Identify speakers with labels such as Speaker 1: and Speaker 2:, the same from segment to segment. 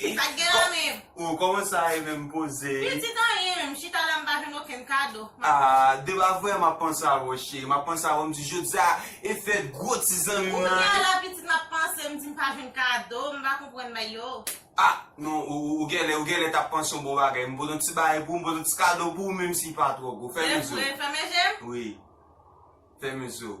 Speaker 1: Li pat gen nan menm. Oh koman sa ye
Speaker 2: menm poze. Pitit anyen menm
Speaker 1: chita la m pa jwenn okenn kado. Ah deba
Speaker 2: vre map panse a wou cheri map panse a wou m di jodia e fèt gwo ti zanmi m nan. Kounya la pitit map panse m di m
Speaker 1: pa jwenn kado m pa konprann bay yo. Ah non
Speaker 2: ou gèlè ou gèlè tap panse yon bon bagay m pot yon ti bagay pou ou m pot yon ti kado pou ou menm si pa twò gwo fèmen zo. Se vre fèmen je m. Wi fèmen zo.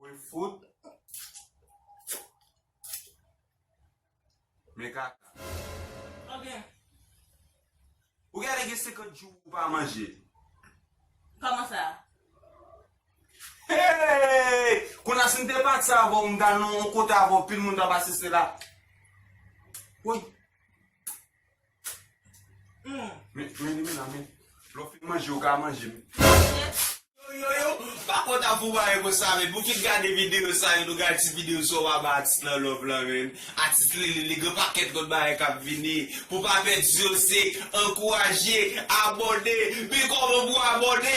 Speaker 2: Woy fout Men kaka. An byen. Ou gade gen 50 jou ou pa manje.
Speaker 1: Koman sa? Hey!
Speaker 2: Konnya si m te pati avè w m ta nan yon kote avè w pil moun t ap asiste la. Woy. Men men men la men. Lè w fin manje ou ka manje men. Yoyoyo pa konn ap pou bagay konsa men pou ki n gade video sa yo nou gade ti video sa yo pa bay atis lan love lan men atis lele li gen pakèt lòt bagay kap vini pou pa pèdi yo se ankouraje abòne men kòman pou abòne.